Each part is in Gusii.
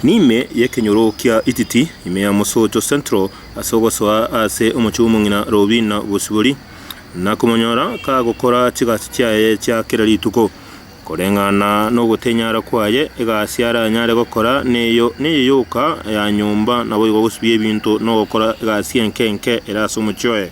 N'ime y'ekenyoro kia Ititi, ime ya Mosocho Central, ase ogosoa aase omochie bw'omong'ina Robina Bosibori, na komonyora kagokora chigasi chiaye chia kera rituko. Koreng'ana nogotenyara kwaye, egasi aranyare gokora neyo neye yoka ya nyomba, naboigo gosibia ebinto na ogokora egasi enke enke ere ase omochie oye.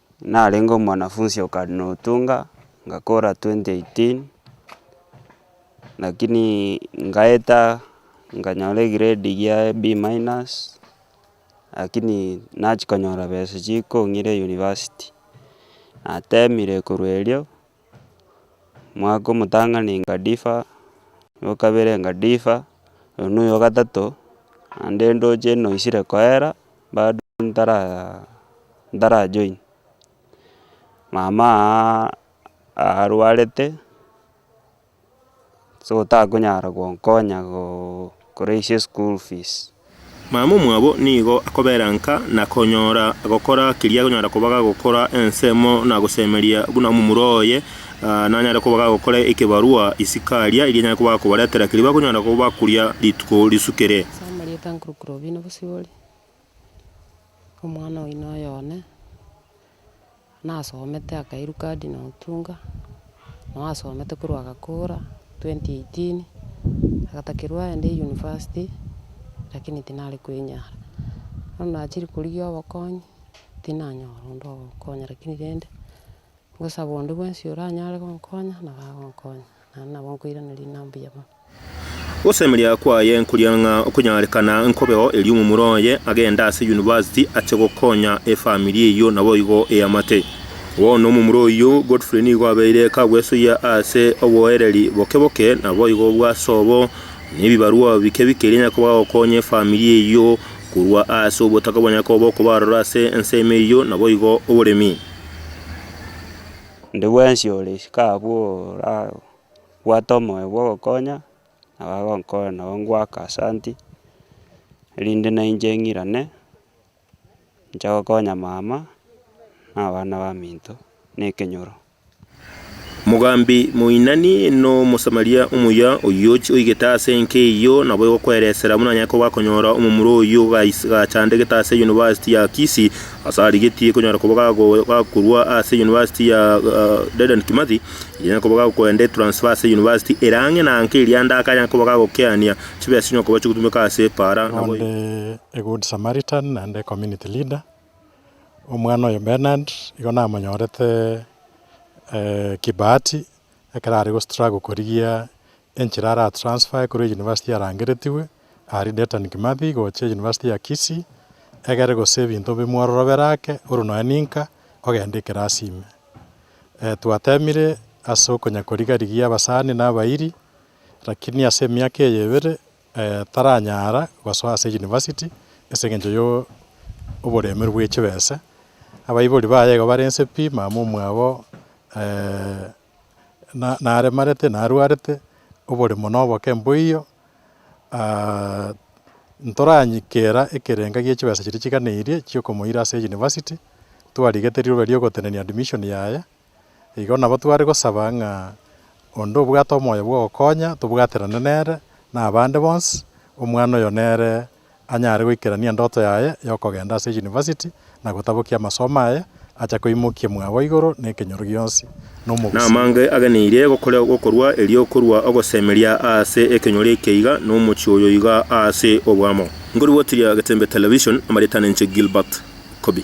Narenge omwanafunsi o Cardinal Otunga, ngakora twenty eighteen, lakini ngaeta nkanyora egrade gia e B minus, lakini nachia konyora besa chikong'ira e university. Natemire korwa erio. Omwaka omotang'ani ngadifa, omwaka o kabere ngadifa, oyo noyo o gatato, naende ndoche noisire koera, bado ntaraaa ntara join. Mama aaaa arwarete. so takonyara gonkonya goo koreisia eschool fees. Mama omwabo nigo akobera nka na konyora gokora keria agonyara koba gagokora ensemo na gosemeria buna omomura oye, aa nanyare koba gagokora ekebarua isiko aria eria anyare koba akobaretera keria bakonyara koba bakuria rituko risukire. Ase amarieta nkorokire obino bosibore. Omwana oino oye one, nasomete akairwa cardinal otunga, nabo asomete korwa agakora, twenty eighteen, agatakerwa aende university, lakini tinare koenyara. Bono nachire korigia obokonyi, tinanyora onde ogokonya, lakini rende, ngosaba onde bwensi oranyare gonkonya, nabo agonkonya. Naende nabo nkoiraneria inaa mbuya mono. Gosemeria kwaye nkoria ng'a okonyarekana nkobeo erio omomura oye agende ase yunivasiti ache gokonya efamiri eyio naboigo eamate. Bono omomura oyio Godfrey nigo abeire kagwesoyia ase oboereri boke boke naboigo bw'asobo nebibarua bike bike eria nyakoba agokonya efamiri eyio korwa ase obotaka bwa nyakoba okoba aroro ase ensemo eyio naboigo oboremi. Onde bwensi ore isiko abwo orabwate omoyo bwa ogokonya, nabo agokonya nabo ngoaka asanti, erinde na inche ng'irane, inche gokonya mama, na abana baminto, na ekenyoro. Mogambi moinani n'Omosamaria omuya oyio ochia oigete ase enka eyio, nabo egokweresera buna anyare koba akonyora omomura oyio ogais- gachandegete ase University ya Kisii, Ase arigetie konyara koba gakorwa ase University ya Dedan Kimathi, egenyera koba gakoenda etransfer ase University ere ang'e na anke eria ande akanyara koba gagokeania chibesa chionye koba chigotumeka ase epaara. Nonde a good Samaritan naende community leader, omwana oyo Bernard igo namonyorete kibahati ekero are gostruggle korigia Enchera ara transfer korwa university yarangeretigwe aria Detan Kimathi gocha university ya Kisii egere gose ebinto bimwororobere ake oru nonya ninka ogende ekerasi ime. Twatemire ase okonya koriga rigiya abasani na abairi lakini ase emiaka eye ebere taranyara gosoa ase university ase engencho yo oboremeru bwe chibese. Abaibori baye igo barense pi mama omwabo. naremarete narwarete oboremo noboke mboiyo, ntoranyikera ekerenga gie chibesa chiria chiganeirie chia okomoira ase university, twarigete riroba riogotenenia admission yaye, igo nabo tware gosaba ng'a onde obwate omoyo bwogokonya tobwaterane nere na abande bonsi, omwana oyo nere anyare goikerania endoto yaye y'okogenda ase yunivasiti na gotabokia amasomo aye, acha koimokia mwabo igoro nekenyoro gionsi na omogusii. Namange ageneirie gokorewa gokorwa erio korwa ogosemeria aase ekenyoro eke iga na omochie oyo iga aase oboamo. Nkoribotiria getembe television amaritana inche Gilbert Kobi.